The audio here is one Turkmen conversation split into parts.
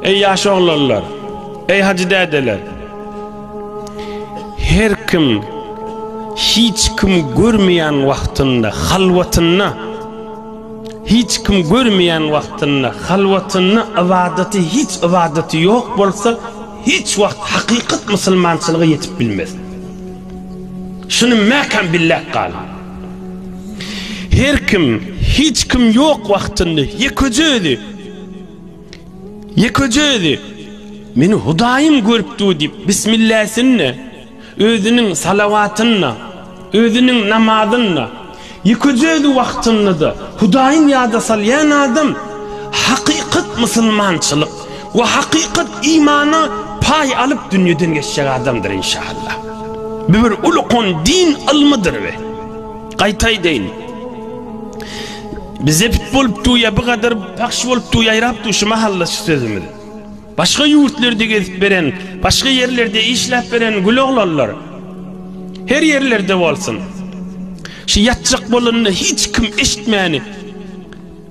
Eý ýaş oglanlar, eý hajy dädeler. Her kim hiç kim görmeýän wagtynda, halwatynda hiç kim görmeýän wagtynda, halwatynda ybadaty hiç ybadaty ýok bolsa, hiç wagt hakykat musulmançylyga ýetip bilmez. Şuny mäkäm billäp galyň. Her kim, hiç kim ýok wagtynda ýekeje özi, ýekeje özi Meni Hudaýym görüp dur diýip, bismilläsinle, özüniň salawatynla, özüniň namazynla, ýekeje özi wagtynda-da Hudaýyn ýada salýan adam hakykat musulmançylyk, We hakykat imana paý alyp dünýeden geçjek adamdyr inşaallah. Bu bir ulukon din ylmydyr we gaýta aýdaýyn Biz zepit bolup duýa bu gadar pahş bolup duýa ýaýrap duý şu mahalla şu sözümiz. Başga ýurtlerde gezip beren başga ýerlerde işläp beren gül oglanlar her ýerlerde bolsun. Şu ýatjak bolanda hiç kim eşitmäni.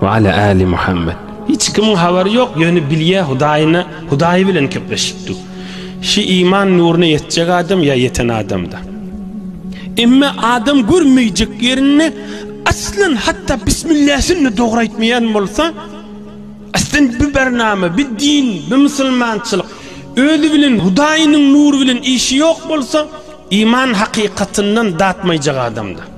We ale ali Muhammed. Hiç kimiň habary ýok, ýöne bilýä Hudaýyna, Hudaýy bilen kepleşipdi. Şi iman nuryna ýetjek adam ýa ýeten adamda. Emme adam görmeýjek ýerinde aslan hatda bismilläsinni dogry aýtmaýan bolsa, aslan bi barnama, bi din, bi musulmançylyk özi bilen Hudaýynyň nury bilen işi ýok bolsa, iman hakykatyndan datmaýjak adamda.